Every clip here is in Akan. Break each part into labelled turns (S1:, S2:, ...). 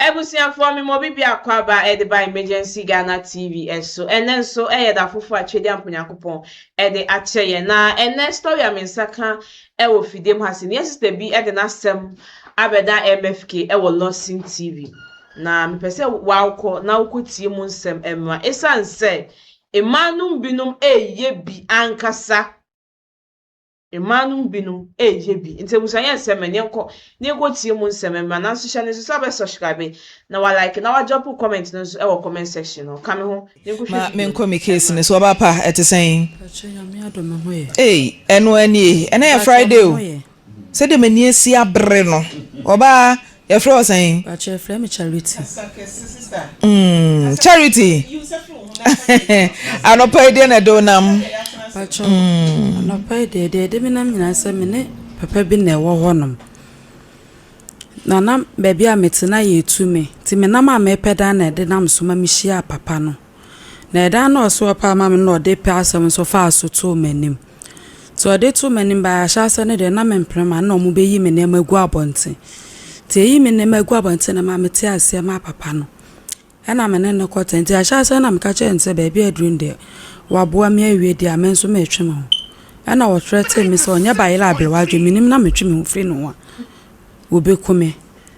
S1: Abusuafoɔ me ma obi biako aba de ba Emergency Ghana TV so ɛnɛ nso yɛ da foforo a Twediamp Nyankopɔn de akyɛ yɛn na ɛnɛ story a me nsa ka wɔ fidiem ha se nea sister bi de n'asɛm abɛda MFK wɔ Lawson TV na mepɛ sɛ wawokɔ na wokɔ tie mu nsɛm ɛmra esan sɛ mmaa nom binom ɛyɛ bi ankasa. Mmaa no mu binom reyɛ bi. Nti abusua yɛ nsɛm ɛ, yɛnkɔ na yɛnkɔ tie mu nsɛm mma. Nanso hyɛ no nso sɛ wobɛ subscribe na wa like na wa drop wo comment no nso wɔ comment section hɔ. Ka me ho na yɛnkɔ hwɛ video no. Ma menkɔ me case no so.
S2: Ɔbaa pa, ɛte sɛn? Mpakyɛ Nyame adom me ho yɛ. Ei, ɛnoa nie? Ɛnɛ yɛ Friday o. Sɛdeɛ m'ani asi abere no, ɔbaa Yɛfrɛ wo sɛn? Mpakyɛ frɛ me charity.
S3: Mm
S2: charity anɔpa yi deɛ na ɛde wo nam? Mpakyɛ
S3: anɔpa yi deɛ deɛ ɛde me nam nyinaa sɛ me ne papa bi na ɛwɔ hɔ nom. Na na baabi a mete na yɛ tu me nti me nam a mepɛ dan na ɛde nam so ma me hyia papa no. Na ɛda a na ɔsoɛ paa ma me no na ɔde pɛ asɛm nso faa so too m'anim. Nti ɔde too m'anim baeɛ a, ahyɛaseɛ no deɛ na mempene ma na wɔbɛyi me nneɛma agu abɔnten. Nti ɛyi me nneɛma agu abɔnten no maa metee aseɛ maa papa no. Ɛna me ne no kɔ tɛn. Nti ahyɛaseɛ no na meka kyerɛɛ no sɛ baabi a aduru no deɛ, waboa me awie deɛ a, me nso meretwe me ho. Ɛna ɔthreaten me sɛ ɔnyɛ bayerɛ a abrɛ w'adwene, menim na metwe me ho firi ne ho a, ɔbɛku me.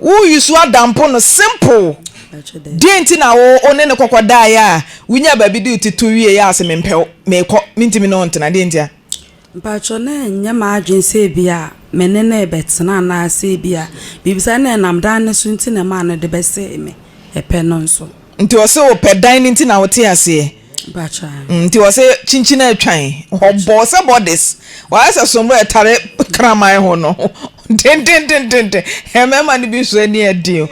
S2: Wo use adampo no simple deɛ nti na wo wo ne no kɔkɔ daeɛ a wo nya baabi de wo ti to wie yɛ a se mempɛ wo mekɔ mentimi ne wo ntena deɛ nti a. Mpakyɛw na
S3: ɛnyɛ m'adwene sɛ ebia me ne no rebɛtena anaasɛ ebia biribi saa na ɛnam dan no so nti na ɛmaa no de bɛsee me ɛpɛ no nso. Nti ɔse ɔpɛ
S2: dan no nti na wo te aseɛ.
S3: Nti wɔse
S2: kyinkyin a ɛtwan hɔbɔ sɛ bodies wɔayɛ sɛ sombra ɛtare kraman ho no dendendendenden mmarima no bi nso ani ɛden o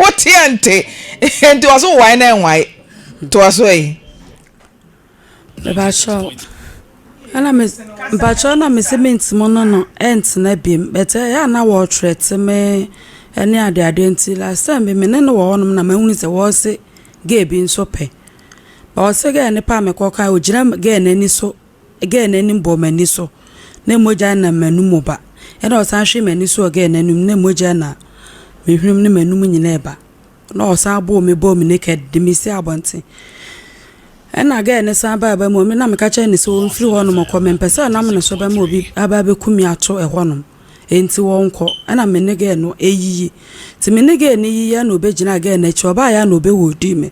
S2: woteɛ nte nti wɔse wowae na ɛnwae toa so ɛyi Bakyɛw
S3: ɛna me bakyɛw na me se me ntimo no no ɛntena biem bɛtɛ eh, ɛyɛ na wɔtwerɛ te me ɛne ade ade nti last time bi me ne no wɔ hɔnom na mahunu sɛ wɔse gay bi nso pɛ Ɔse girl no paa me kɔkɔ a ogyina girl no ani so girl no anim bɔ m'ani so na mogya nam m'anum ba ɛna ɔsan hwee m'ani so wɔ girl no anum na mogya na me hwenem ne m'anum nyinaa ba na ɔsan bɔɔ me bɔɔ me naked de me si abɔnten ɛna girl no san baa ba mu na meka kyerɛ ne sɛ ɔmfiri hɔnom kɔ mempɛ sɛ nam ne so bɛma obi aba abɛku me ato ɛhɔnom enti wɔnkɔ ɛna me ne girl no ɛyiyi nti me ne girl no yiyi ɛna ɔbɛgyina girl no akyi ɔbaayɛ na ɔbɛwɔ di me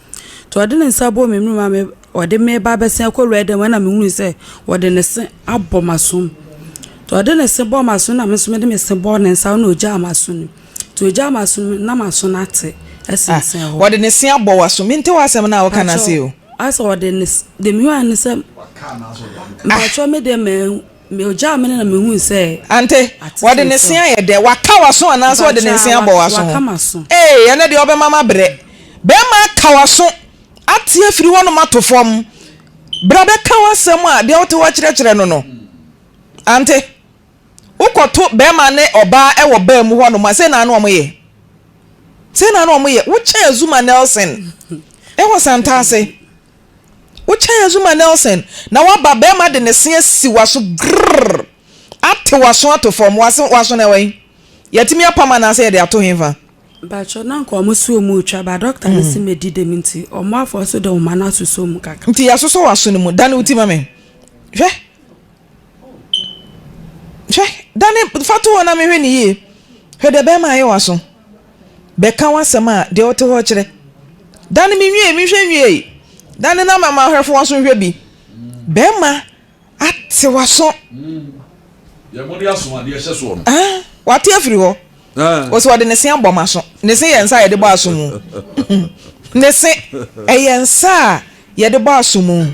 S3: Nti ɔde ne nsa bɔɔ me mene mu a me ɔde me ba abɛsen akɔ wura dɛm ɛna me hunu sɛ ɔde ne se abɔ m'asom nti ɔde ne se bɔɔ m'asom na me nso mede me se bɔɔ ne nsa na ogyaa m'aso no nti ogyaa m'aso no na m'aso no ate ɛsensɛn hɔ. Ɔde ne se abɔ w'aso
S2: me nte w'asɛm no a ɔka no ase o. Asɛ ɔde ne
S3: de me hunu ne sɛ mpakyɛ me deɛ mɛ Me ogyaa me no na mehui sɛ. Ante, wɔde
S2: ne se ayɛ dɛ. Waka w'aso anaasɛ wɔde ne nse abɔ w'aso ho? Ee, ɛnɛ deɛ wobɛma mabrɛ. Bɛrima aka w'aso ate afiri hɔnom ato fam. Bra bɛka w'asɛm a deɛ wote hɔ kyerɛkyerɛ no no. Ante, wokɔto bɛrima ne ɔbaa wɔ baa mu hɔnom a, sei na na wɔyɛ. Sei na na wɔyɛ. Wokyɛɛ Zuma Nelson wɔ Santa ase. Wo kyɛn Azumah Nelson na waba bɛɛma de ne se asi waso grrrr ate waso ato fam wase waso no ɛwɛn? Yatumi apam anaasɛ yɛde ato henfa? Mpakyɛw na nka
S3: ɔmo se ɔmo retwa but doctor no se medi dem nti ɔmo afɔso de nhoma no asosɔ mu kakra. Nti yasosɔ waso no mu?
S2: Dane wo ti ma me hwɛ. Hwɛ! Dane fa to hɔ na menhwɛ no yie. Hwɛ deɛ ɛbɛyɛ ma ayɛ w'aso. Bɛka w'asɛm a, deɛ ɔte hɔ kyerɛ. Dane menwie, menhwɛ nwiei. Dane na mama ahwɛfo w'aso nhwɛ bi. Bɛrima
S4: ate w'aso.
S2: Deɛ
S4: mode aso adeɛ hyɛ soɔ no. Ah,
S2: wate afiri hɔ. Ɔse ɔde ne se abɔ m'aso. Ne se yɛ nsa a yɛde bɔ aso mu. Ne se ɛyɛ nsa a yɛde bɔ aso mu.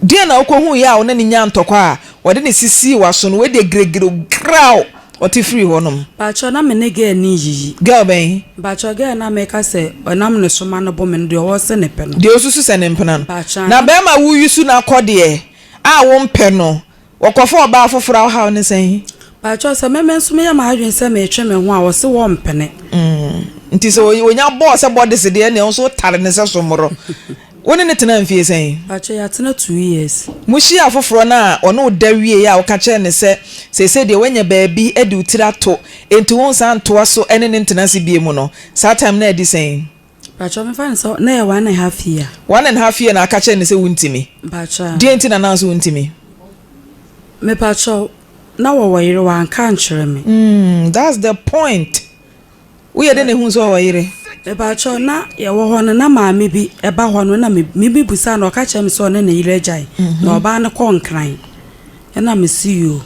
S2: Deɛn na ɔkɔhuuiɛ a ɔne no nyaa ntɔkwa a ɔde no sisii w'aso no? Wei deɛ giregire o, graw! Ɔte firii hɔ nom. Mpakyɛw na me ne girl
S3: no nyiyi. Girl bɛn?
S2: Mpakyɛw girl no a meka
S3: sɛ ɔnam ne so ma no bɔ me no deɛ ɔwɔ se ne pɛ no. Deɛ osusu sɛ ne mpena
S2: no. Mpakyɛw na. Na bɛɛma wo yusu no akɔ deɛ a wo mpɛ no Wɔkɔfa ɔbaa foforɔ a wohaw ne sɛn? Pakyɛw sɛ me me
S3: nso meyɛ m'adwene sɛ metwe me ho a wɔse wɔmpene. Mm, nti
S2: sɛ onya bɔɔ sɛ bɔdese deɛ ɛneɛ wo nso wotare no sɛ sommorɔ. Wo ne no tenaa mfeɛ sɛn? Pakyɛw yɛatena two
S3: years. Mo hyiaa foforɔ no
S2: a ɔne wo da wieeɛ a woka kyerɛɛ no sɛ seesei deɛ woanya baabi de wo tiri ato nti wonsan ntoa so ne no ntena ase bio mu no, saa time no adi sɛn? Mpakyɛw mefa no
S3: sɛ na yɛ one and half year. One and half year na aka
S2: kyerɛ no sɛ wontumi? Mpakyɛw a. Deɛn nti na naa
S3: so wontumi? Mepakyɛw, na wɔwɔ yere wanka ankyerɛ me. Umm that's the point,
S2: woyɛ dɛn na ehuu sɛ ɔwɔ yere? Mepakyɛw, na
S3: yɛwɔ hɔ no na maame bi ɛba hɔ no na me mebisaa no ɔka kyerɛ me sɛ ɔne ne yere agyae na ɔbaa no kɔ Nkran. Ɛna me se yoo.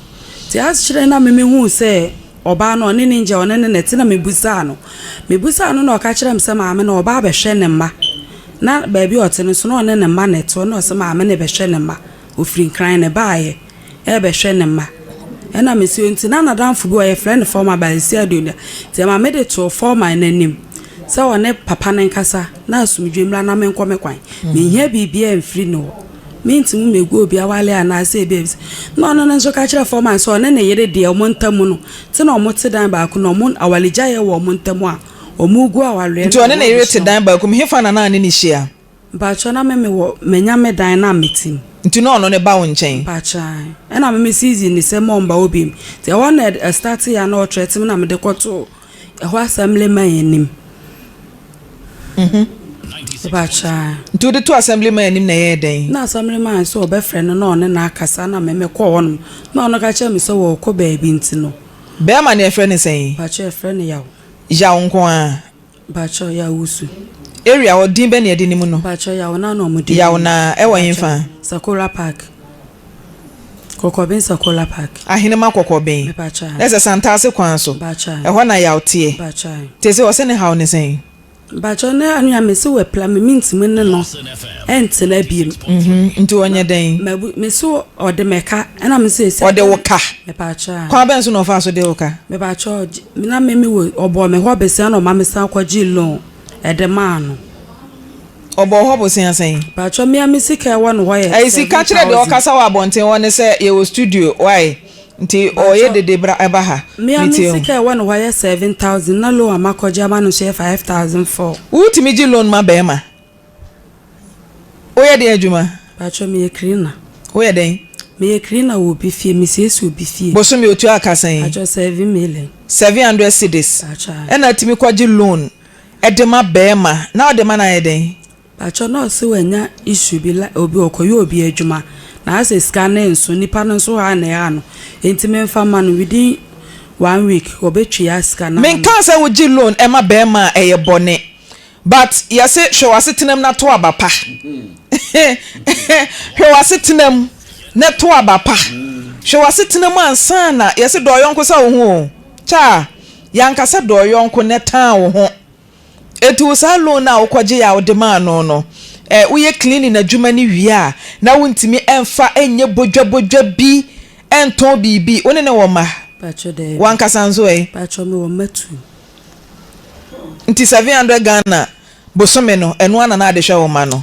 S3: Nti akyerɛ na me me huu sɛ ɔbaa no ɔne ne ngya ɔne ne na te na me busaa no me busaa no na ɔka kyerɛ me sɛ maame no ɔba abɛhwɛ ne mma na baabi ɔte no nso na ɔne ne mma na ɛte ɔno na ɔse maame no ɛbɛhwɛ ne mma ɔfiri nkran na ɛbaayɛ ɛbɛhwɛ ne mma ɛna me se nti na nadamfo bi wɔ yɛfrɛ no Foreman Bayesia Aduonda nti ɛma me de too Foreman no anim sɛ ɔne papa no nkasa na asomdwe mmra na menkɔ me kwan menhia biribiaa mfiri ne hɔ. Merentumi mmɛgu obi awale anaasɛ ebia ebisa na ɔno no nso ka kyerɛ foreman sɛ ɔne ne yere deɛ wɔn ntam no te na wɔte dan baako na wɔn awaregyaeɛ wɔ wɔn ntam a, wɔregu awareɛ Nti no a ɔne ne yere te wɔabusua dan mu.
S2: baako mu, hefa na na ɔne no hyia? Mpakyɛw, na me
S3: mewɔ manya me dan na mete mu. Nti na ɔno no ba wo
S2: nkyɛn? Mpakyɛw, ae. Ɛna
S3: me me season ne sɛ mɔmba hɔ biom. Nti ɛhɔ na ɛd ɛstarteeɛ a na ɔtrɛte me na mede kɔtoo Ɛhɔ assemblyman anim. Nti wode to
S2: assemblyman anim na ɛyɛɛ dɛn? Na assemblyman sɛ
S3: ɔbɛfrɛ no na ɔne no akasa na me mekɔ hɔ nom na ɔno ka kyerɛ me sɛ ɔɔkɔ baabi nti no. Bɛɛma no yɛfrɛ
S2: no sɛn? Mpakyɛw yɛfrɛ no Yaw.
S3: Yaw nko ara?
S2: Mpakyɛw Yaw
S3: Wusu. Area hɔ din
S2: bɛn na yɛde no mu no? Mpakyɛw Yaw Naa na ɔmo de no
S3: mu. Yaw Naa ɛwɔ henfa?
S2: Sakora park.
S3: Kɔkɔben Sakola Park. Ahenema
S2: Kɔkɔben. Ɛsɛ Santase
S3: kwan
S2: so. Ɛhɔ na yaw
S3: teɛ.
S2: Tese ɔse
S3: ne haw ne
S2: sɛn? Mpakyɛw ne
S3: anua mese wapira me mentumi ne no ntena biem. Nti ɔnyɛ
S2: dɛn? Mese
S3: ɔde me ka ɛna mese esi ade. Ɔde wo ka?
S2: Mepakyɛw. Kwan
S3: bɛn so na ɔfaa so de
S2: wo ka? Mepakyɛw
S3: na me me wɔ ɔbɔɔ me hɔ bese ɛna ɔma me san kɔgyee loan ɛde maa no.
S2: Ɔbɔɔ hɔ bosea sɛn? Paatwɔ mea me sika
S3: ɛwɔ no hɔ yɛ seven thousand. Ɛyi sika kyerɛ deɛ ɔkasa
S2: wɔ abɔnten hɔ ne sɛ yɛwɔ studio wai nti ɔyɛ dede bra ɛba ha metie ho. Mea me sika ɛwɔ
S3: no hɔ yɛ seven thousand na loan a makɔ gye ama no nso yɛ five thousand four. Wo tumi gye loan
S2: ma bɛɛma? Wo yɛ deɛn adwuma? Paatwɔ me yɛ cleaner.
S3: Wo yɛ dɛn?
S2: Me yɛ cleaner wɔ
S3: obi fie me siesie obi fie. Bosome otua ka sɛn?
S2: Paatwɔ seven million.
S3: Seven hundred cedis.
S2: Paatwɔ ae. Ɛna atumi
S3: kɔ gye
S2: loan de ma bɛɛma na ɔde ma no ayɛ dɛn? Pakyɛw na ɔse
S3: wanya issue bi like obi ɔkɔyɛ obi adwuma na asɛ sika no nso nipa no nso haa na ɛhaa no nti menfa mma no within one week ɔbɛtua sika no ama no. Menkaa sɛ wogye loan
S2: ma bɛɛma a ɛyɛ bɔne but yɛse hwɛ w'asetenam na to aba pa hwɛ w'asetenam na to aba pa hwɛ w'asetenam ansa na yɛse dɔ ɔyɔnko sɛ wo ho o kyaa. Yɛanka sɛ dɔ wo yɔnko na tan wo ho. Enti wo saa loan no a wokɔgyee a wode maa no no, ɛ, woyɛ cleaning adwuma no wie a, na wontumi mfa nyɛ bodwabodwa bi ntɔn biribi? Wo ne no wɔ mma? Pakyɛ daabi. W'ankasa
S3: nso ɛ? Pakyɛ
S2: mewɔ mma
S3: two.
S2: Nti seven hundred Ghana bosome no, ɛno ara na na wode hwɛ wo mma no?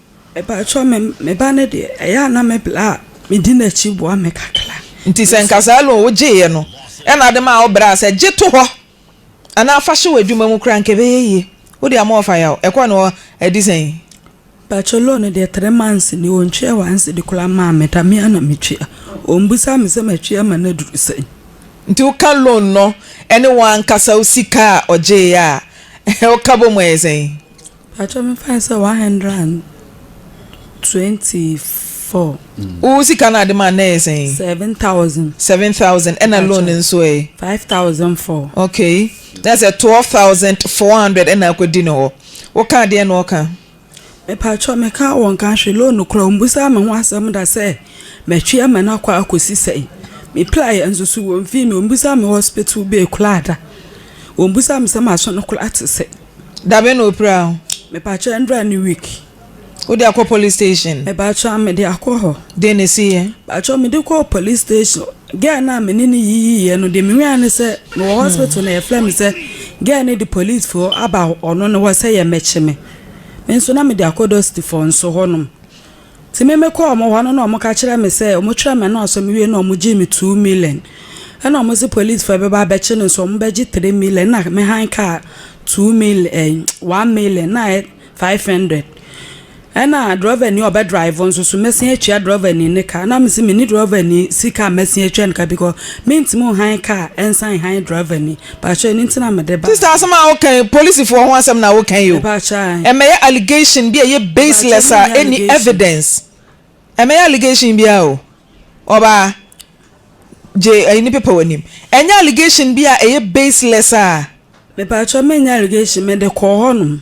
S2: Mepakyɛw
S3: me me ba no deɛ ɛyɛ a na me bla a medi n'akyi boa me kakra. Nti sɛ nka saa
S2: loan wo gyeeɛ no ɛna ade maa wo braa sɛ gye to hɔ anaa fa hyɛ w'adwuma mu koraa nka ɛbɛyɛ yie. Wode ama ɔfa yaw. Ɛkɔ no hɔ ɛde sɛn? Mpakyɛw
S3: loan no deɛ three months nie wɔn ntwea one cedi koraa mmaa me da me ara na me tua. Wɔn bisa me sɛ matwea ma no aduru sɛn. Nti
S2: wo ka loan no ɛne wo ankasa wo sika a ɔgyeeɛ a wo ka bɔ mu ɛyɛ sɛn? Pakyɛw me fa
S3: no sɛ one hundred and twenty four. Wo sika
S2: no a de maa no ɛyɛ sɛn? Seven thousand. Seven
S3: thousand ɛna loan no
S2: nso ɛ? Five thousand
S3: four. Okay
S2: na sɛ twelve thousand four hundred ɛna akɔ di no hɔ wo kaa deɛ na ɔka? Me pakyɛw
S3: me kaa wɔn ka hwee loan no koraa wɔn busaa me ho asɛm da sɛ mɛ twe ama no akɔ akɔ si sɛn me pla yɛ nso so wɔn fii me wɔn busaa me hospital bill koraa da wɔn busaa me sɛ ma so no koraa te sɛn. Daben na opira
S2: ho. Mepakyɛ ndra
S3: ne week. Wode akɔ
S2: police station. Mepakyɛ a mede
S3: akɔ hɔ. Deɛ na ɛsiiɛ?
S2: Pakyɛ mede kɔɔ
S3: police station girl no a me ne no yiyiiɛ no deɛ me nwiaɛ ne sɛ mewɔ hospital na yɛfrɛ me sɛ girl no de police foɔ aba ɔno no hɔ sɛ yɛmɛkye me me nso na mede akɔ dɔsitifoɔ nso hɔ nom Ntsi me mekɔr wɔn hɔ no na wɔka kyerɛɛ me sɛ wɔkyerɛɛ me anɔɔso me wie na wɔgyee me two million na wɔse polisfoɔ ɛbɛba abɛkye no nso wɔbɛgye three million na me han kaa two million ɛn one million na ayɛ five hundred ɛna drɔvani a ɔbɛdraevo nso so mɛsen atua drɔvani ne ka na mese menni drɔvani sika a mɛsen atua ne ka bikɔ mentimi nhan kaa ɛnsan nhan drɔvani Pakyɛ ɛno nti na mede ba. Sister asɛm a woka yi
S2: polisifoɔ ho asɛm na woka yi o. Mepakyɛ ae. Ɛmɛyɛ
S3: allegation
S2: bi a ɛyɛ baseless a ɛnni evidence. Ɛmɛyɛ allegation biara o. Ɔbaa, gye ayi no pepa w'anim. Ɛnyɛ allegation bi a ɛyɛ baseless a. Mepakyɛ
S3: menyɛ allegation mede kɔɔ hɔ nom.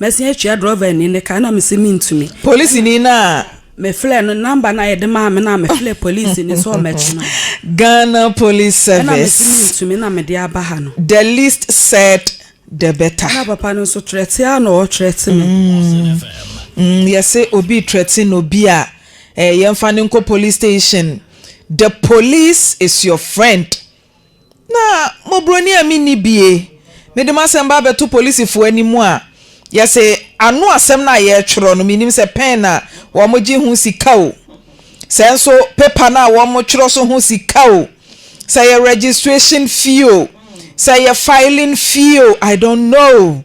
S3: Mɛsan atua drɔvani no ka na mese mentumi. Polisini no a.
S2: Mefrɛɛ no,
S3: number no a yɛde maa me no a mefrɛɛ polisi no sɛ ɔmmɛtwe me hɔ. Ghana
S2: Police Service. Ɛna mese mentumi na
S3: mede aba ha no. The least
S2: said the better. Ɛna papa no nso trɛte
S3: a na ɔtrɛte me. Mm, yɛse
S2: obi trɛte no bi a, eh, yɛmfa no nkɔ police station. The police is your friend. Na mɔboroni a menni bie, mede m'asɛm ba bɛto polisifo anim a, yɛse ano asɛm no a yɛtwerɛ no mennim sɛ pɛn na wɔgye ho sika o, sɛ nso paper no a wɔtwerɛ so ho sika o, sɛ ɛyɛ registration fee o, sɛ ɛyɛ filing fee o, I don't know.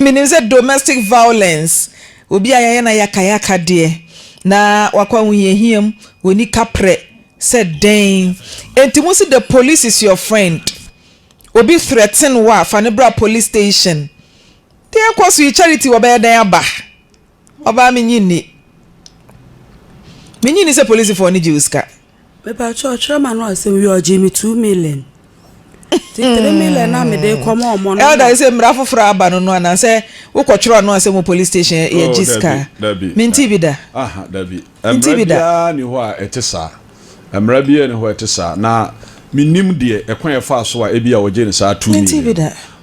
S2: Menim sɛ domestic violence, obi a yɛayɛ no ayakayaka deɛ, na wakɔ ahohiahia mu, wɔnni kaprɛ sɛ dɛn. Enti mo se the police is your friend. Obi threaten wo a, fa no bra police station. Deɛ ɛkɔ so yi, Charity wɔbɛyɛ dɛn aba? Ɔbaa mennye nni. Mennye nni sɛ polisifoɔ no gye wo sika. Mepakyɛw
S3: ɔkyerɛ ma no asɛm wie a ɔgyee me two million ti three million na mede rekɔ ma ɔmo no na. Elder sɛ mmara foforɔ
S2: aba no no anaa sɛ wokɔtwerɛ ano asɛm wɔ police station yɛgye sika a mentee bi da.
S4: Mmara biara nni hɔ a ɛte saa. Mmara biara nni hɔ a ɛte saa, na mennim deɛ, ɛkwan a ɛfaa so a ebia wɔgyee no saa tumi no.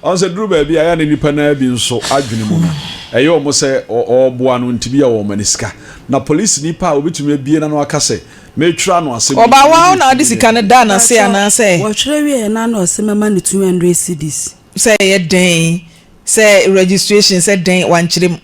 S4: Ɔn sɛ
S2: duru baabi a
S4: ɛyɛ a na nnipa no ara bi nso adwene mu no, ɛyɛ wɔn sɛ ɔreboa no nti ebia wɔma no sika. Na polisini pa a obetumi abue n'ano aka sɛ, Metwerɛ ano ase mede tumi no retu me
S2: yere. Mpakyɛw, wɔtwerɛ wieɛ no ano
S3: ɔse mɛma no 200 cedis.
S2: Sɛ registration sɛ dɛn wankyerɛ mu.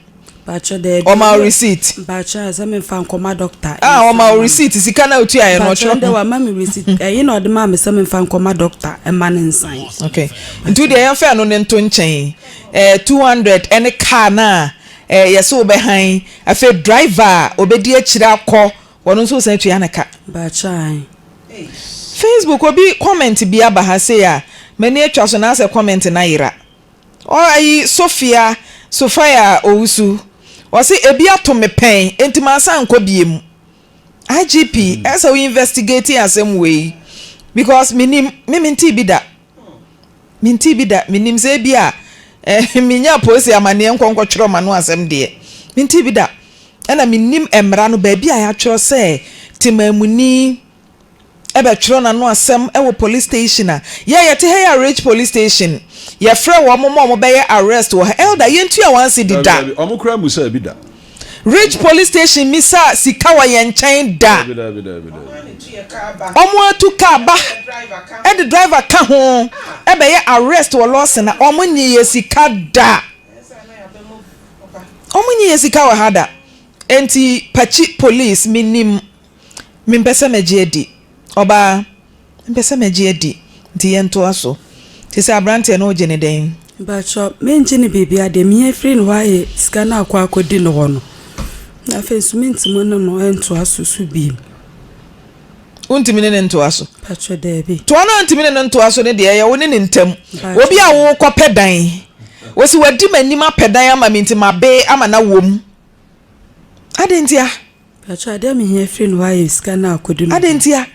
S2: Mpakyɛ daabi.
S3: Ɔma wo receipt?
S2: Mpakyɛ sɛ me nfa
S3: nkɔ ma doctor. Ah ɔma wo receipt
S2: sika na otua yɛ no ɔkyerɛ ho. Mpakyɛ ndɛ wa ma me receipt
S3: ɛyi na ɔde maa me sɛ me nfa nkɔ ma doctor ɛma no nsan. Ok nti wodeɛ
S2: yɛn fa ɛno no nto nkyɛn ɛɛ two hundred ɛne car no a ɛɛ yɛse wo bɛ han afei driver a ɔbɛdi akyire akɔ ɔno nso wosan tua no ka. Mpakyɛ ae. Facebook obi comment bi aba ha sei a m'ani atwa so na asɛ comment no ayera. Ɔayi Sofia Sofia Owusu, ɔse ebi ato me pɛn enti mansan nkɔ biemu. IGP ɛsɛ wo investigate asɛm wei because menim, me mentee bi da, mentee bi da, menim sɛ ebi a mennya apoose amaneɛ nkɔ nkɔtwerɛ m'ano asɛm deɛ, mentee bi da ɛna menim mmara no baabi a yɛatwerɛ sɛ Temaamuni, bɛtwerɛ n'ano asɛm wɔ police station a yɛ yɛte ha yi a Ridge police station yɛfrɛ wɔn ma wɔn bɛyɛ arrest wɔ ha Elder yɛntua wɔn ase di da. Dabi dabi wɔn koraa mmusaa bi da.
S4: Ridge police
S2: station mmisaa sika wɔ yɛn nkyɛn da. Dabi dabi dabi dabi. Wɔn atu car ba de driver ka ho bɛyɛ arrest wɔ lawson a wɔn nnye yɛn sika da. Wɔn nnye yɛn sika wɔ ha da. Enti pakyi police me nim Mempɛ sɛ mɛgye adi. Ɔbaa, Mempɛ sɛ mɛgye adi. Nti yɛntoa so. Te sɛ aberanteɛ no, wogye no dɛn? Mpakyɛw, mengye
S3: no biribiara. Deɛ mehia firi ne hɔ ara yɛ sika no akɔ akɔdi ne hɔ no. Na afei nso mentumi ne no ntoa so so bio.
S2: Wontumi ne no ntoa so? Mpakyɛw, daabi.
S3: Toa no a ntumi ne no ntoa
S2: so no deɛ, ɛyɛ wo ne ne ntam. Obi a worekɔpɛ dan. Ɔse wadi m'anim apɛ dan ama me nti mabee ama no awom. Adɛn ntia? Mpakyɛw
S3: adeɛ a mehia firi ne hɔ ara yɛ sika no a ɔkɔdi no dwa. Adɛn ntia?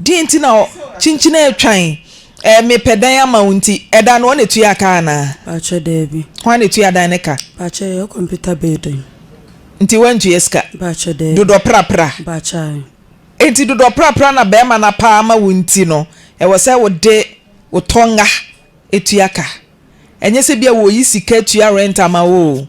S2: Deɛn nti na ɔ, kyinkyin retwan ɛɛ mepɛ dan ama wo nti, ɛdan no hɔ na ɛtua ka anaa? Mpakyɛw daabi.
S3: Hɔ ara na ɛtua dan no ka.
S2: Mpakyɛw yɛyɛ computer
S3: building. Nti
S2: woantua sika? Mpakyɛw daabi. Dodɔ
S3: prapra.
S2: Mpakyɛw
S3: ae. Enti dodɔ
S2: prapra na bɛɛma no apa ama wo nti no ɛwɔ sɛ wode wo tɔnga tua ka? Ɛnyɛ sɛ bia wɔyi sika tua rent ama wo oo.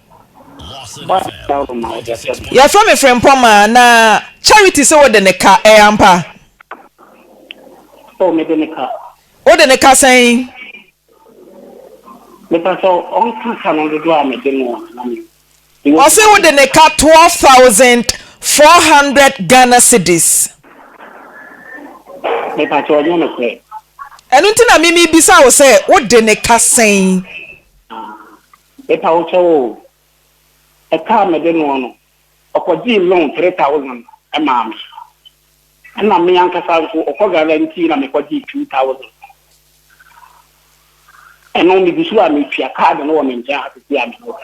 S2: Yɛfrɛ me Frimpong a, na Charity se wode ne ka, ɛyɛ ampa?
S5: Oh, mede ne ka. Wode ne ka
S2: sɛn?
S5: Mepɛ sɛ ɔnka ka no dodoɔ a mede no na me. Ɔse wode
S2: ne ka twelve thousand four hundred Ghana cedis.
S5: Mepɛ sɛ ɔnyɛ no korɛ. Ɛno nti na
S2: mimi bisa wo sɛ wode ne ka sɛn?
S5: Mepa wo kyɛw oo. Ɛka a mede noɔ no, ɔkɔgyee loan three thousand maa me. Ɛna me ankasa nso, ɔkɔ Ghana nti na mekɔgyee two thousand. Ɛno megu so a metua, card no wɔ me nkyɛn ha seesei a mewɔ.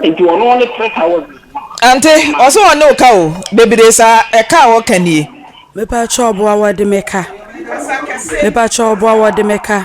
S5: Nti ɔno ne three thousand no. Ante,
S2: ɔse ɔne wo ka o, bebree saa, ɛka a ɔka nie. Mepa kyɛw
S3: boa wɔde me ka. Mepa kyɛw boa wɔde me
S5: ka.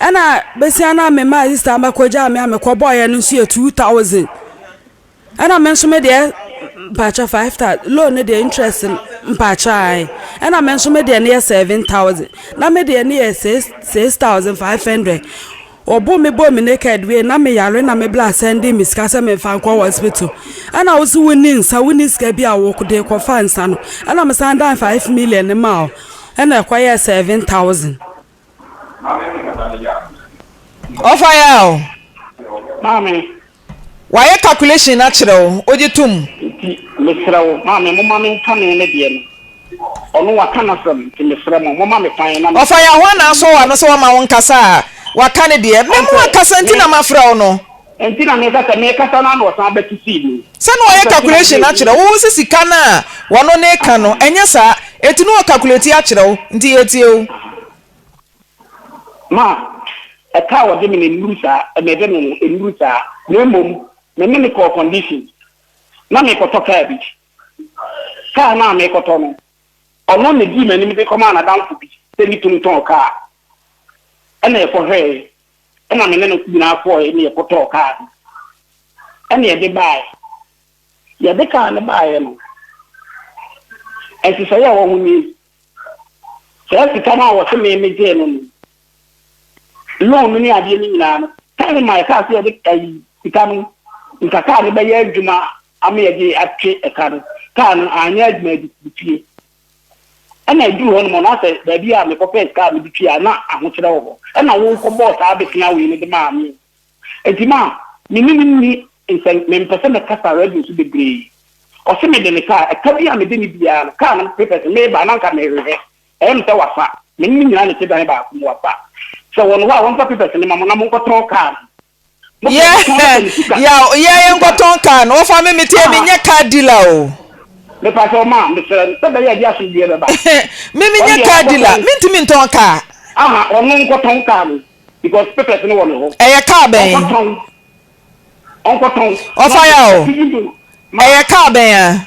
S3: Ɛna besia no a me maa sista no bɛkɔgyaa me a mekɔbɔeɛ no nso yɛ two thousand ɛna me nso me deɛ mpakyɛ five thousand loan no deɛ interest mpakyɛ ae ɛna me nso me deɛ no yɛ seven thousand na me deɛ no yɛ six six thousand five hundred wɔbo me bɔ me naked wei na me yare na me bla sɛnde me sika sɛ me nfa nkɔ hospital ɛna wosi wo ni nsa wo ni sika bi a wo de kɔfa nsa no ɛna me san dan five million ma o ɛna ɛkɔyɛ seven thousand.
S2: Ɔfa yɛ a o. Maame.
S5: Wayɛ
S2: calculation no akyerɛ wo, wogye to mu. Nti mesrɛ
S5: wo, maame, momma menka me ne deɛ no. Ɔno waka n'asɛm, nti mesrɛ mo, momma me kwan na me. Ɔfa yɛ a ho a na asɔ w'ano
S2: sɛ wamma wo nkasa a, waka ne deɛ. Mɛma wakasa nti na mafrɛ wo no. Enti na meka sɛ
S5: merekasa no a na ɔsan bɛto sii mu. Sɛ na ɔyɛ calculation
S2: akyerɛ wo. Wohu sɛ sika no a ɔno ne reka no, ɛnyɛ saa. Enti na ɔcalculate akyerɛ wo. Nti yɛtie o.
S5: Ma, ɛka a ɔde me no nnuru saa, ɛma ɛbɛ me no, ennuru saa. Na mmom, me ne no kɔɔ condition. Na merekɔtɔ kaa bi. Kaa no a merekɔtɔ no, ɔno na edii m'anim de kɔmaa n'adamfo bi sɛ ne tumi tɔn kaa. Ɛna yɛkɔhwɛe, Ɛnna me ne no nyinaa kɔeɛ ne yɛkɔtɔɔ kaa no, ɛnna yɛde baeɛ. Yɛde kaa no baeɛ no, nhyehyɛeɛ a ɛwɔ ho nie, Saa sika no a wɔse me megyee no no, loan no ne adeɛ no nyinaa no, time a yɛkaa sɛ yɛde ayi sika no, nka kaa no bɛyɛ adwuma ama yɛde atwe ɛka no, kaa no anyɛ adwuma, ɛde sii fie. Ɛnna eduu hɔ no mu no, na sɛ baabi a mekɔpɛɛ sika a mede tui a, na ahokyerɛ wɔ hɔ. Ɛnna wokɔbɔɔ saa abesea wei no de maa me. Enti ma me ne no nni nsɛm, mempɛ sɛ mɛkasa radio so bebree. Ɔse mede ne kaa, ɛka bi a mede ne biara no, kaa no papers no, mereba a na anka merehwehwɛ. Ɛyɛ me sɛ wafa. Me ne no nyinaa na ɛte dan baako mu. Wafa. Sɛ ɔwɔ ne hɔ a, ɔmfa papers no mma mo na monkɔtɔn kaa no. yɛ
S2: yɛ yɛ yɛ nkɔtɔn kaa no wɔfa me mete mi nyɛ kaa dila o. mepa sɛ ɔma
S5: mesrɛ no sɛ bɛyɛ ɛde asomdwoeɛ bɛba. me me nyɛ
S2: kaa dila mentumi ntɔn kaa. aha ɔno
S5: nkɔtɔn kaa no because papers no wɔ ne hɔ. ɛyɛ kaa bɛn.
S2: ɔnkɔtɔn
S5: ɔnkɔtɔn. ɔfa ya o
S2: ɛyɛ kaa bɛn a.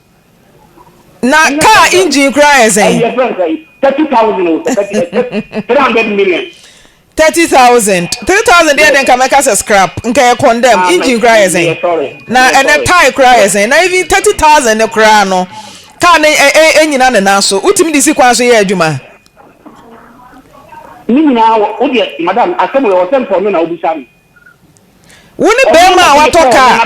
S2: Na kaa engine koraa yɛ sɛn? Ɛyɛ fɛn sɛn? Thirty thousand o, sɛ thirty, ɛsɛ three
S5: hundred million. Thirty thousand,
S2: three thousand deɛ deɛ nka mɛka sɛ scrap, nka yɛ condemn. Ah, engine koraa yɛ sɛn? Na ɛnɛ tie koraa yɛ sɛn? Na even thirty thousand ne koraa no, kaa no ɛnyina ne nan so. Wotumi de si kwan so yɛ adwuma?
S5: Ne nyinaa, wodeɛ madam, asɛm wɔ sɛ mpɔ no na wobisa no. Wo
S2: ne barima a watɔ kaa.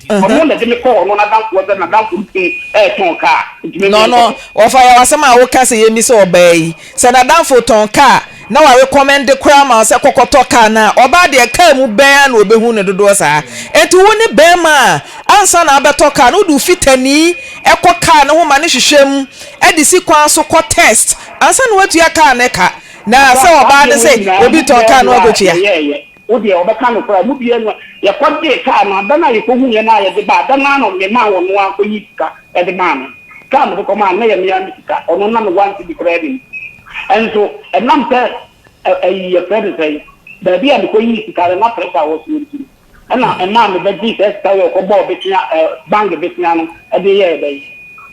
S2: Ɔno na de me kɔɔ ɔno n'adamfo hɔ
S5: sɛ n'adamfo no tumi retɔn kaa. No no,
S2: wɔfa yɛ w'asɛm a woka sɛ yɛmmi sɛ ɔbaa yi sɛ n'adamfo tɔn kaa na warekɔmɛnde koraa ma wo sɛ kɔkɔtɔ kaa no a, ɔbaa deɛ kaa mu bɛn ara na ɔbɛhu no dodoɔ saa. Enti wo ne barima a ansa na abɛtɔ kaa no wode wo fitani kɔ kaa no ho ma no hwehwɛ mu de si kwan so kɔ test ansa na woatua kaa no ka. Na sɛ ɔbaa no sɛ obi tɔn kaa no akotua. Wo deɛ ɔbɛka
S5: nokorɛ a mu biara nni hɔ. Yɛkɔ gyee kaa no, adan a yɛkɔ huiɛ no ara yɛde baa, adan no ara na ɔde maa wɔn no ara kɔ yii sika de maa me. Kaa a mede kɔ maa no na ɛyɛ me ara me sika, ɔno na me one cedi koraa nnim. Nso ɛnam sɛ ɛyi yɛfrɛ no sɛn, baabi a mekɔ yii sika no na pressure wɔ soɔ nti no. Ɛna ɛmaa me ba gyee saa sika wei ɔkɔ bɔɔ besia ɛ bank besia no ɛde yɛɛ dɛn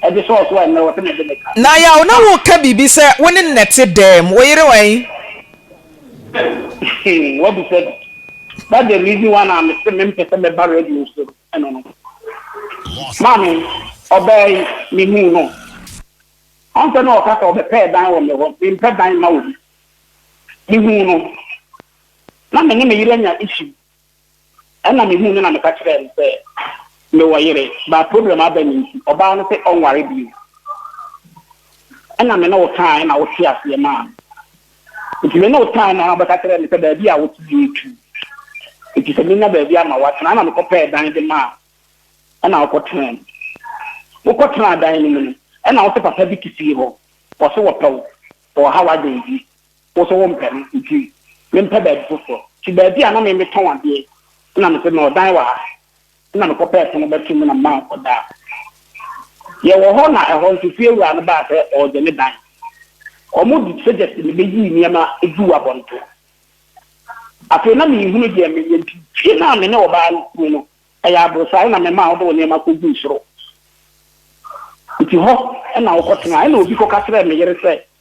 S5: ɛde sɔɔ so a ɛnɛ ɔse me de me ka. Na yaw na wo ka
S2: biribi sɛ wo ne nnɛ te dɛɛm wo yere wɛn?
S5: Hmm wa bisa bi that the reason why na me se me mpɛ sɛ me ba radio so ɛno no maame ɔbaa yi me huu no ɔnsɛ na ɔka sɛ ɔbɛ pɛɛ dan wɔ me hɔ me mpɛ dan ma obi me huu no. na me ne me yere anya issue ɛna me huu no na me ka kyerɛɛ no sɛ me wɔ yere but problem aba me nti ɔbaa no sɛ ɔnware bio ɛna me ne wo kaa ɛna wo te aseɛ maa me nti me ne wo kaa ɛna ɔbɛka kyerɛɛ me sɛ baabi a wo te yɛ tu nti sɛ menya baabi ama wo atena ɛna me kɔ pɛɛ dan de maa ɛna wokɔ tena mu wokɔ tena dan no mu no ɛna wo sɛ papa bi te fie hɔ wɔ so wɔ pɛw wɔ ha wɔ adɛn bi Wo nso wompɛ no, nti mempɛ baabi foforɔ. Nti baabi a na me metɔn adeɛ na mete no, ɔdan wɔ ha. Na mekɔpɛɛ pono bɛto mu na mema ɔdaa. Yɛwɔ hɔ na ɛhɔ nso fie wura no baa sɛ ɔregye ne dan. Wɔde suggest me bɛyii nneɛma guu abɔnten. Afei na menhunu deɛ menyɛ nti fie no a me ne ɔbaa no tena mu no, ɛyɛ aborosan na memaa wode wo nneɛma kɔguu soro. Nti hɔ na wokɔtenaa. Ɛnna obi kɔka kyerɛɛ me yere sɛ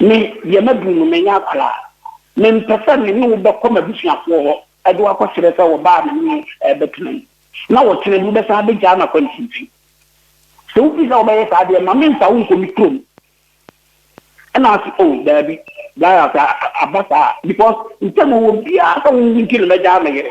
S5: Me deɛ maduru no, manyɛ akwadaa. Mempɛ sɛ me ne wo bɛkɔ m'abusuafoɔ hɔ de wo akɔsrɛ sɛ wɔba a me ne wo bɛtena mu, na ɔkyena bi wobɛsan abɛgyaa me akwansinti. Sɛ wopɛ sɛ wobɛyɛ saa deɛ, ma memfa wo nkɔ me kurom. Ɛnna ɔse, O, daabi, Brian, sɛ aba saa a, because ntam a ɔwɔ biara sɛ wo nti na mɛgyaa me yere.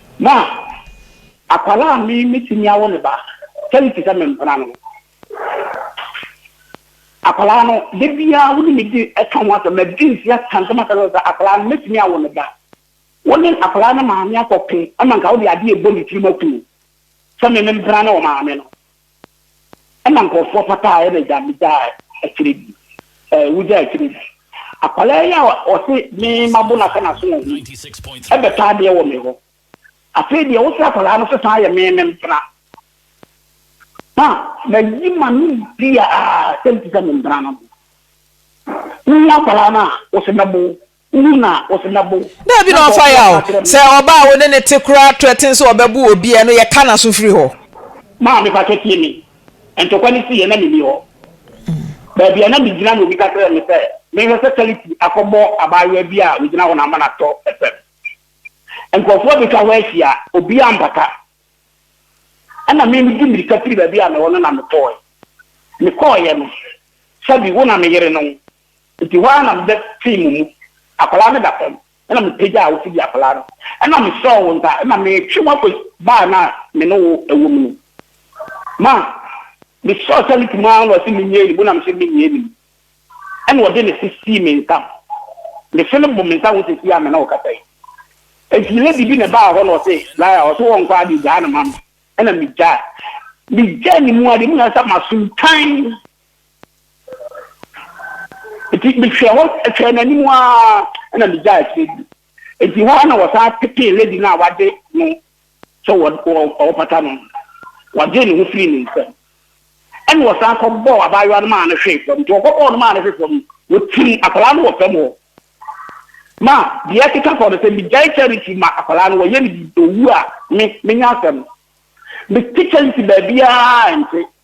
S5: Na akwadaa a me metumi awo ne ba kyɛre te sɛ me mpena no. Akwadaa no da biara wo ne me di ɛka ho asɛm, madi nse aka nsɛm akyerɛ no sɛ akwadaa no mɛtumi awo ne ba. Wo ne akwadaa no maame akɔko ma nka wode adeɛ ɛbɔ ne tirim akum no sɛ me me mpena ne ɔmaame no. Ɛna nkorɔfoɔ fata a ɛna agya me gyaa akyire bi ɛɛ wo gyaa akyire bi akwadaa yi a ɔse me ma bo nasa naso wɔ ho yi ɛbɛ tɔ adeɛ wɔ me hɔ afei deɛ wosɛ akwadaa no sesan yɛ me me mpena ma ma yi ma no bia a sɛ mpisa me mpena no ho wo ho akwadaa no a wose mɛbo Daabi na ɔmfa ya
S2: o. Sɛ ɔbaa a wo ne no te koraa threaten sɛ ɔbɛbo obi a, ɛno yɛka n'aso firi hɔ. Maame pakyɛ
S5: tie me, ntɔkwa no siiɛ na menni hɔ. Baabi a na megyina no obi ka kyerɛɛ me sɛ menhwɛ sɛ Charity akɔbɔ abaayewa bi a ɔgyina hɔ no ama no atɔ fam. Nkurɔfoɔ abɛtwa hɔ ahyia, obiara ampata. Ɛna me medi mmirika firi baabi a mewɔ no na mekɔɔɛ. Mekɔɔeɛ no, sɛbi wo na me yere no. Enti hɔ ara na mebɛ tee mo mu. Akwadaa no da fam, ɛna me pagyaa wo fidi akwadaa no, ɛna me sɔɔ wo nsa, ɛna me twe wo akɔ baa no a me ne wo wɔ mu no. Ma, me sɔɔ sɛ ne ti mu ara na ɔse me nyɛ anim, na me se me nyɛ anim. Ɛna ɔde ne se sii me nsam. Me se no bo me nsa ho sɛsi a me ne wo kasa yi. Enti lady bi na ɛbaa hɔ na ɔse Lara, ɔse wɔ nkɔ ade gyaa no ma me, ɛna me gyaa. Me gyaa ne mu ade, mu na ɛsɛ sɛ masom tann. Enti mehwɛɛ hɔ hwɛɛ n'anim ara na migyaee akyire di. Enti hɔ ara na wɔsan petee lady no a wɔagye no sɛ wɔrepata no no. Wɔgyee ne ho firii ne nsam. Ɛnna wɔsan kɔbɔɔ abaayewa no maa no hwee fam. Enti wɔkɔbɔɔ no maa no hwee fam no, wɔtim akwadaa no wɔ fam hɔ. Ma deɛ ɛkeka kɔ no, sɛ migyae Charity ma akwadaa no, wɔyɛ no biribi, ɔwu a, me, menya asɛm. Mete Charity baabiara a ɛnte.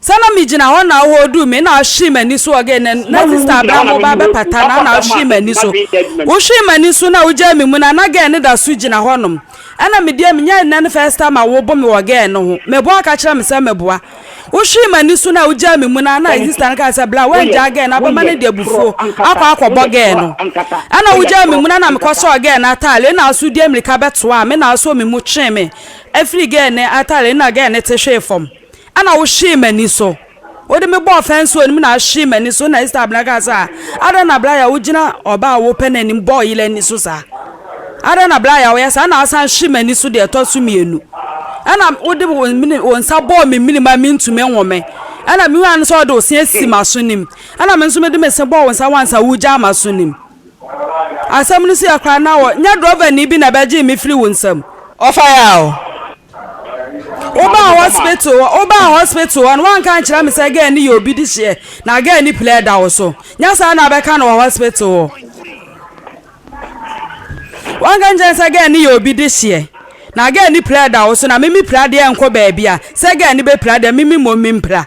S5: Sɛ na me gyina hɔ
S3: na ɔhɔɔ duu me na ɔhwee m'ani so ɔgee na na sister abena mo ba bɛpata na na ɔhwee m'ani so wo hwee m'ani so na wo gyaa me mu na na gɛɛ no da so gyina hɔ nom ɛna me deɛ me nya ɛnɛ no first time a wo bo me wɔ gɛɛ no ho me boa ka kyerɛ me sɛ me boa wo hwee m'ani so na wo gyaa me mu na na sister no ka sɛ bla wo angyaa gɛɛ no abɛma no de abufuo akɔ akɔ bɔ gɛɛ no ɛna wo gyaa me mu na na me kɔ sɔɔ gɛɛ no atale ɛna aso die mirika bɛtoa me na aso me mu twee me afiri gɛɛ no atale ɛna gɛɛ no te hwee fam. Ɛna wohwee m'ani so. Wode me bɔɔ fɛnse wɔ anim na ahwee m'ani so, ɛna Ester abena kaa sɛ, Adɛn na bere a wogyina ɔbaa a wopɛ no anim bɔɔ yere ani so saa? Adɛn na bere a woyɛ saa na wosan hwee m'ani so deɛ ɛtɔ so mmienu? Ɛna wode wo nsa bɔɔ me mene ma mentumi nhome. Ɛna mehuaa no sɛ wode wo se asi m'aso no mu, ɛna me nso mede me se bɔɔ wo nsa ho ansa woregyaa m'aso no mu. Asɛm no siiɛ koraa na wɔ nyɛ drɔvani bi na bɛgyee me firi wo nsam. Ɔfa yɛ a o.
S2: Wo baa hospital hɔ wo baa hospital hɔ no wanka ankyerɛ me sɛ girl no yɛ obi de hyeɛ na girl no pilɛɛ da wo so nyɛ saa na abɛka no wɔ hospital hɔ wanka ankyerɛ me sɛ girl no yɛ obi de hyeɛ na girl no pilɛɛ da wo so na me me pira deɛ nkɔ baabi a sɛ girl no bɛ pira deɛ me me mmom me mpira.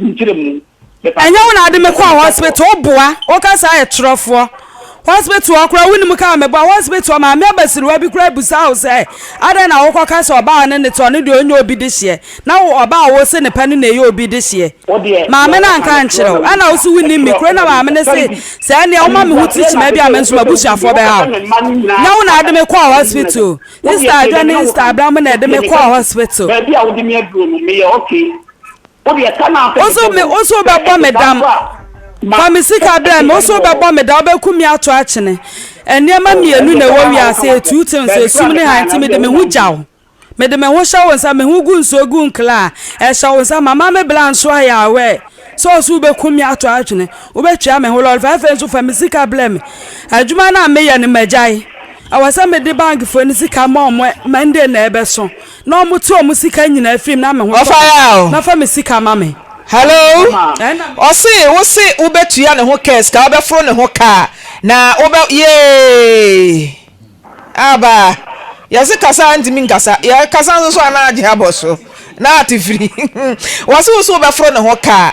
S5: Ɛnyɛ wo na ade
S3: me kɔɔ hospital wo boa wo ka saa yɛ torɔfoɔ hospital hɔ koraa wonim kaa me boa hospital hɔ maame abasiriwa bi koraa busaa wo sɛ adɛn na wokɔ ka sɛ ɔbaa ne ne te ɔno deɛ ɔnyɛ obi de hyeɛ na wo ɔbaa wo se ne pɛ no na ɛyɛ obi de hyeɛ maame no anka nkyerɛ wo ɛna wo so wonim me kuro na maame no se sɛ ɛneɛ woma me ho ti kyima bi a me nso mabusuafoɔ bɛha wo nyɛ wo na ade me kɔɔ hospital Easter adwa ne Easter abira mu na ɛde me kɔɔ hospital. Baabi a wode me aduro
S5: no meyɛ okay. Ose me
S3: ose wobɛbɔ me dam Fa me sika brɛ me Ose wobɛbɔ me dam Wobɛku me ato akyene Nneɛma mmienu na ɛwɔ wiase a Two things Esum ne hann Nti mede me ho gya wo Mede me ho hyɛ wo nsa Me ho gu nsuo gu nkla a Ɛhyɛ wo nsa Mama me bra nso ayɛ aware Sɛ ose wobɛku me ato akyene Wobɛtwea me ho lɔre fa Afei nso fa me sika brɛ me Adwuma no a meyɛ no magyae Ɛwɔ sɛ mede bankfoɔ no sika ma wɔn Monday na ɛbɛso. Na ɔmo tu ɔmo sika nyinaa firi me na me ho tɔ me na fa me sika ma me. Hello
S2: ɔse wo se wo bɛ tua ne ho kɛs ka wo bɛ foro ne ho kaa na wo bɛ yeeii aba yɛse kasa ntimi nkasa yɛ kasa nso so a na agye abɔ so na ate firi wɔ se wo se wo bɛ foro ne ho kaa.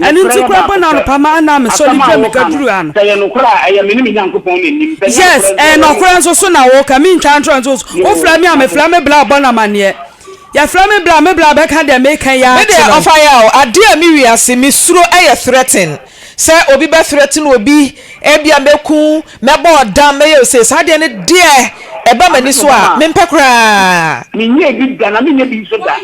S3: Ɛno nti koraa mpo na anɔpa ma na mesɔ ne dua meka duru ha no.
S5: Yes, ɛyɛ nɔkorɛ
S3: nso so na woka, mentwa ntorɔ nso so. Wofrɛ me a mefrɛ me bla bɔ no amaneɛ. Yɛfrɛ me bla, me bla bɛka deɛ meka yi akyerɛ wo. Medeɛ ɔfa yɛ a o,
S2: adeɛ a me wiase me suro yɛ threaten. Sɛ obi bɛ threaten obi, ebia mɛku, mɛbɔ ɔdam, mɛyɛ osei, saa adeɛ no deɛ ɛba m'ani so a, mempɛ koraa. Menyɛɛ bi da
S5: na menyɛ bi nso da.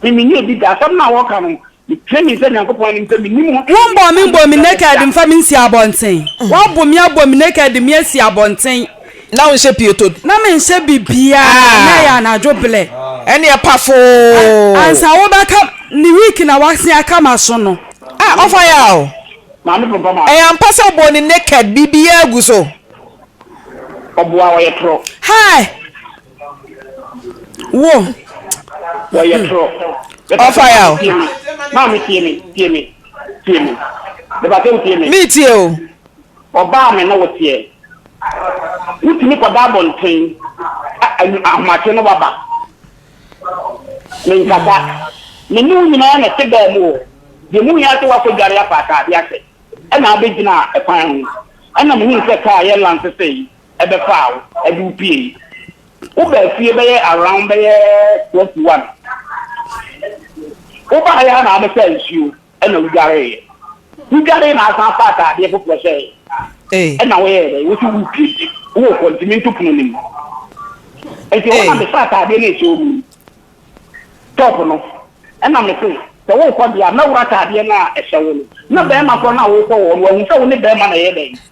S5: Me menni obi da. Asɛm no a wɔka no, mepere me nsa Nyankopɔn anim sɛ mennim ho hwee. Wombɔɔ me mbɔɔ me naked
S3: mfa me nsi abɔnten. Wɔabɔ me abɔ me naked de me asi abɔnten. Na wonhyɛ
S2: pieto bi. Na menhyɛ
S3: biribiara na ɛyɛ anadwo blɛ. Ɛneɛ pafoo.
S2: Ansa
S3: wobɛka ne wig na wasen aka m'aso no. Ah ɔfa yɛ a o.
S2: Maame Prɔmpɔ ma.
S5: Ɛyɛ ampa sɛ ɔbɔɔ ne
S2: naked biribiara gu so.
S5: Ɔboa ɔyɛ torɔ. Hi!
S3: Wo. Wɔyɛ
S5: toro. Ɔfa ya o.
S2: Maame tie
S5: me, tie me, tie me. Mepatɛ o tie me. Me tie o.
S2: Ɔbaa me
S5: ne wo teɛ. Wotumi kɔda abɔnten ahomakye ne waba. Menkasa. Me ne wo nyinaa na ɛte baa mu o. Deɛ mu hia sɛ woakɔdware afa ataadeɛ ase ɛna abɛgyina kwan ho. Ɛna mehu sɛ kaa yɛ lansesee. ɛbɛfaa wo ɛde wo piei. Wo baa fie bɛyɛ around bɛyɛ twelve to one. Wo baaeɛ a na abɛsaa nsuo ɛna wo dwareeɛ. Wo dwaree na asan afaa ataadeɛ foforɔ hyɛɛ Ei. ɛna wo yɛɛ dɛn? Wo se wo pie nti wo kɔ nti me nto pono no mu. Nti hɔ na Ei. me saa ataadeɛ no ɛhyɛ wo mu no top no ɛna me se sɛ wo kɔ deɛ a mɛworo ataadeɛ no a ɛhyɛ wo no. Na bɛɛma korɔ no a wo kɔ hɔ no wahu sɛ wo ne bɛɛma na ɛyɛ dɛn?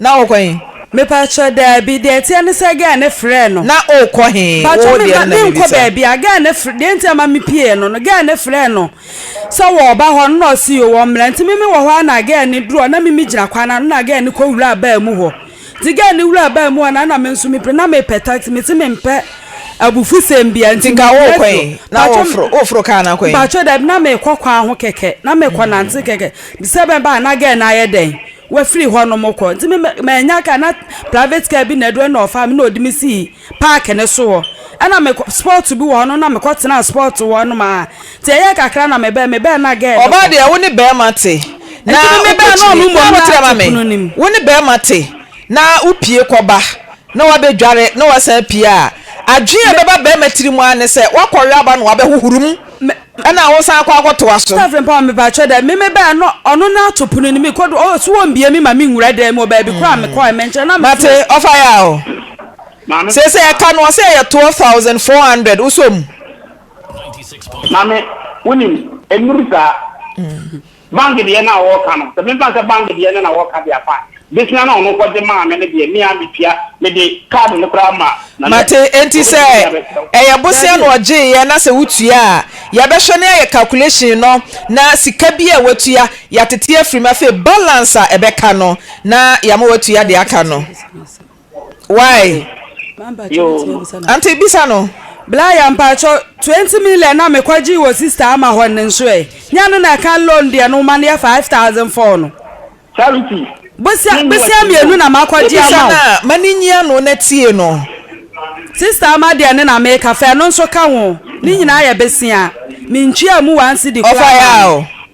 S2: Na wo kɔ he? Mepaatwɔ,
S3: daabi. Deɛ ɛteɛ ne sɛ gɛɛ no frɛɛ no. Na wo kɔ he? Paatwɔ,
S2: me mma, me nkɔ
S3: baabiaa. Gɛɛ no frɛ, deɛ nti a ɛma me pieeɛ no no, gɛɛ no frɛɛ no sɛ wɔ ɔba hɔ no na ɔse yoo wɔ mmra. Nti me me wɔ hɔ a na gɛɛ no duru hɔ na me me gyina kwan no ano na gɛɛ no kɔ wuraa baa mu hɔ. Nti gɛɛ no wuraa baa mu hɔ na na me nso me pire na me pɛ taxi, me se me mpɛ abufusɛm biaa nti me
S2: pire so. Paatwɔ, Paatwɔ, daabi na me kɔ
S3: kwan ho kɛkɛ, na me kɔ nante kɛkɛ, sɛ mɛba a na gɛɛ no ayɛ dɛn. Wafiri hɔnom kɔ. Nti me mannya car na private car bi na adu ɛna ɔfaa me na ɔde me sii park no so hɔ. Ɛna me kɔ spot bi wɔ hɔnom na me kɔ tenaa spot wɔ hɔnom a. Nti ɛyɛɛ kakra na me bɛɛ me bɛɛ na girl no Ɔbaa kɔ. deɛ wo ne bɛɛma
S2: te na Nti me me bɛɛ na ɔno wokɔkyini mmom
S3: na ate Wokyerɛma me pono no mu.
S2: wo ne bɛɛma te na wopie kɔba na wabɛdware na wasan apue a adwene a Me. ɛbɛba bɛɛma tiri mu ara ne sɛ wakɔwe aba na wabɛhohoro mu. Me. Ɛna wo san kɔ akɔtoa so. Staff mpa me pakyɛ dɛ
S3: me me bɛɛ no ɔno na ato pono no me kɔ do oh so wɔ mbie me ma me nwura dɛm mu wɔ baabi kɔ a me kɔ ɛmɛ nkyɛn na me so. Mate ɔfa yɛ a oh.
S2: Maame. Sɛsɛ ɛka no ɔsɛ ɛyɛ twelve thousand four hundred wosɔ mu.
S5: Maame wonim ɛnuru saa. Bank deɛ no a wɔka no, sɛ memfa nsɛ bank deɛ no na wɔka de afa a, Bisina no a ɔno kɔgye maa me no deɛ, me ara metua, mede card no koraa ma no nnɛ. Mate, enti sɛ Ɔbɛtumi de
S2: abɛkyerɛ wo. ɛyɛ bosea na Daabi. ɔgyeeɛ na sɛ wotua a, yɛbɛhwɛ na yɛayɛ calculation no na sika biara a watua, yɛatete afiri mu. Afei balance a ɛbɛka no na yɛama watua deɛ aka no. Why? Yo. Auntie bisa no. Blaya
S3: mpakyɛ 20 million na mekɔgye wɔ sister ama hɔ no nso ɛ nyɛ no na ɛka loan deɛ no ma no yɛ 5000 fɔɔ no charity
S5: bosia
S3: bosia mmienu na makɔgye ama wo na ma ne nyi ano
S2: na tie no sister
S3: ama deɛ no na meka fɛ no nso ka ho ne nyinaa yɛ besia mentwia mu one cedi koraa ɔfa yɛ a o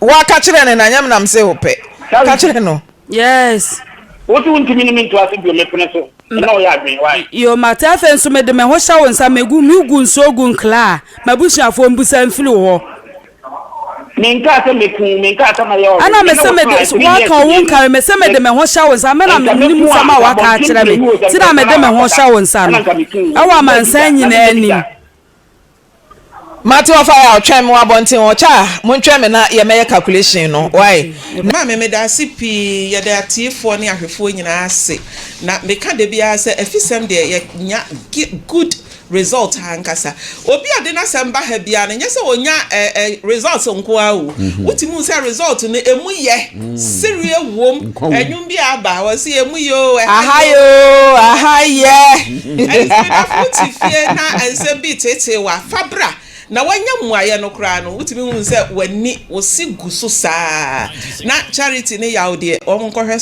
S2: Woaka kyerɛ no na nyɛ me na mese wo pɛ. Ka kyerɛ no. Yes.
S3: Wo se wo ntumi
S5: ne me nto ase bio, mepene so. Ɛna ɔyɛ adwene, why? Yo, mate afei nso
S3: mede me ho hyɛ wo nsa, megu, me gu nsuo gu nkla a m'abusuafoɔ mbusa mfiri wo hɔ.
S5: Me nkaa sɛ mɛku wo, me nkaa sɛ mɛyɛ ɔwe. Ɛna me se me de,
S3: waka wo nkari, me se me de me ho hyɛ wo nsa, me na me nim nsɛm a waka akyerɛ me, ti na me de me ho hyɛ wo nsa no, ɛwɔ amansan nyinaa anim. Mate
S2: ɔfa yɛ a ɔtwɛn me wɔ abɔnten hɔ kyɛ a montwɛn me na yɛ mɛyɛ calculation no wai na. Maame medaase
S6: pii yɛda atiefoɔ ne ahwɛfoɔ nyinaa ase na meka dabiara sɛ afisɛm deɛ yɛ nya good result ankasa obi a ɔde nasɛm ba ha biara no nyɛ sɛ ɔnya results nkoaa o wotumi hu sɛ result no ɛmu yɛ Sereɛ wom ɛnwom bi a aba a wɔse emu yɛ oo ɛha yɛ oo. Aha yɛ oo aha
S2: yɛ.
S6: Ɛnti me dafo wo te fie na nsɛm bi reteetee wo a fa bra na woanya mmuaeɛ no koraa no wotumi hu sɛ w'ani wo se gu so saa na Charity ne Yaw deɛ wɔn nkɔhwɛ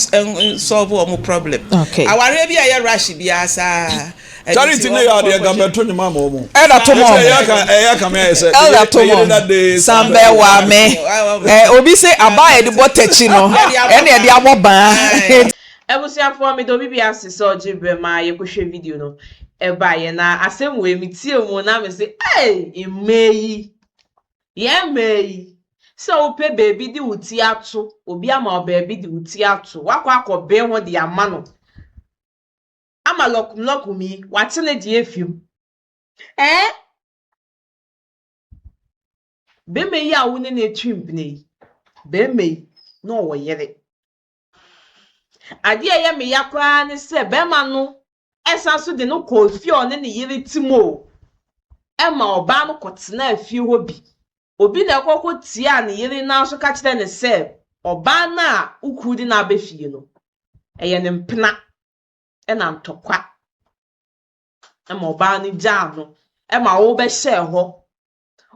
S6: nsɔlve wɔn problem. Awareɛ bi a ɛyɛ rush biara saa. Charlie ti ne yɛ
S4: adeɛ nka bɛto ne maama ɔmo. Elder to mo. Ɛsɛ ɛyɛ ka
S2: ɛyɛ ka mi
S4: ayɛ sɛ. Elder to mo.
S2: Sanbɛ wa mi. Ɛ obi se aba a yɛde bɔ tɛkyi no ɛna yɛde abɔ ban. Abusuafoɔ
S1: meda obi bia ase sɛ ɔgye berɛ ma yɛkɔhwɛ video no ɛbaeɛ na asɛm wei me tie mu na me se eii mmaa yi yɛn mmaa yi sɛ wopɛ baabi de wo ti ato obi ama wo baabi de wo ti ato wakɔ akɔ bee ho de ama no ama lɔkum lɔkum yi w'ate ne deɛ afi mu ɛɛ bɛma yi a wo ne no atwi mpene yi bɛma yi na ɔwɔ yere adeɛ a ɛyɛ me ya koraa ne sɛ bɛma no ɛsan so de no kɔɔ fie a ɔne ne yere te mu o ɛma ɔbaa no kɔtenaa fie hɔ bi obi na ɛkɔkɔ tia ne yere nan so ka kyerɛ ne sɛ ɔbaa no a wokuru de no aba fie no ɛyɛ ne mpena na ntɔkwa ma ɔbaa no gyaa no ma wobɛhyɛɛ hɔ.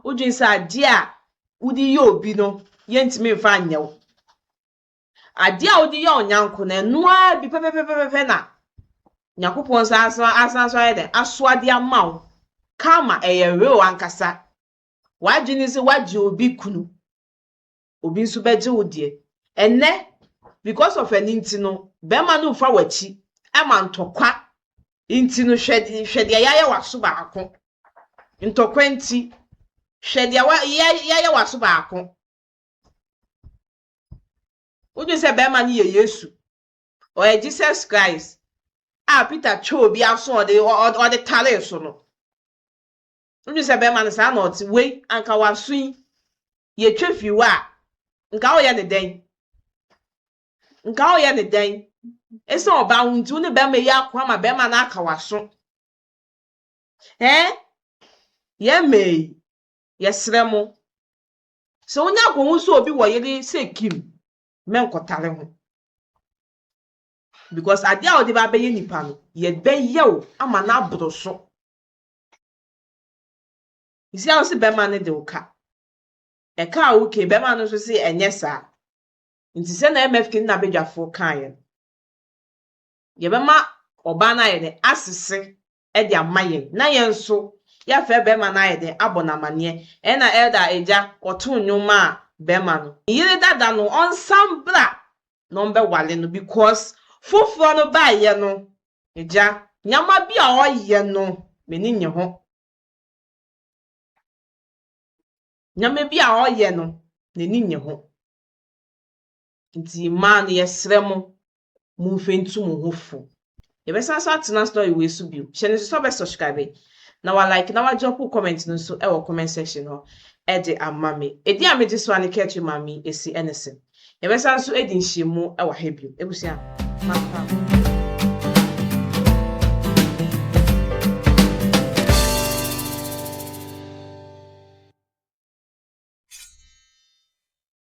S1: Wodwen sɛ adeɛ a wode yɛ obi no, yɛntumi mfa nyɛ wo. Adeɛ a wode yɛ wo nyɛnko no, ɛno ara bi pɛpɛpɛpɛpɛ na Nyankopɔn san so asan so ayɛ dɛ asoa de ama wo. Karma, ɛyɛ real ankasa. W'adwene ne sɛ woagye obi kunu. obi nso bɛgye wo deɛ. Ɛnnɛ, because of ɛno nti no, bɛrima no mfa w'akyi ma ntɔkwa nti no, hwɛ, hwɛ deɛ yɛayɛ w'aso baako. Ntɔkwa nti, hwɛ deɛ wa, yɛ, yɛayɛ w'aso baako. Wodwen sɛ bɛrima no yɛ Yesu, ɔyɛ Jesus Christ a Peter twɛɛ obi aso a ɔde, ɔ, ɔ, ɔde taree so no. Wodwen sɛ bɛrima no saa na ɔte, wei, anka w'aso yi yɛtwa firi hɔ a, nka woyɛ no dɛn? Nka woyɛ no dɛn? Ɛsiane ɔbaa ho nti, wo ne bɛrima yi ako ama bɛrima no aka w'aso. Ɛɛ, yɛn mmaa yi, yɛsrɛ mo, sɛ wonya akɔhu sɛ obi wɔ yere sɛ Kim, mɛnkɔtare ho. Because adeɛ a wode ba abɛyɛ nipa no, yɛbɛyɛ wo ama no aboro so. Isia wo se bɛma no de wo ka. Ɛka a woke bɛma no nso se ɛnyɛ saa. Nti sɛ na MFK ne n'abadwafo kaeɛ no, yɛbɛma ɔbaa no ayɛ dɛn? Asese de ama yɛn na yɛn nso yɛafrɛ bɛma no ayɛ dɛn? Abɔ no amaneɛ. Ɛna Elder Agya ɔtoo nnwom maa bɛma no. Ne yere dada no ɔnsan bra na ɔmbɛwale no because foforɔ no baayɛ no Agya. Nneɛma bi a ɔyɛ no m'ani nnye ho. Nneɛma bi a ɔyɛ no n'ani nnye ho. Nti mmaa no yɛsrɛ mo monhwɛ ntu mo ho fo. Yɛbɛsan so atena story wei so bio. Hyɛ no nso sɛ wobɛsubscribe na walike na wadrɔpo comment no nso wɔ comment section hɔ de ama me. Edin a megye so ara ne Kɛtwe Maame Esi ne se. Yɛbɛsan so adi nhyiamu wɔ ha bio. Abusua, mankɔ a.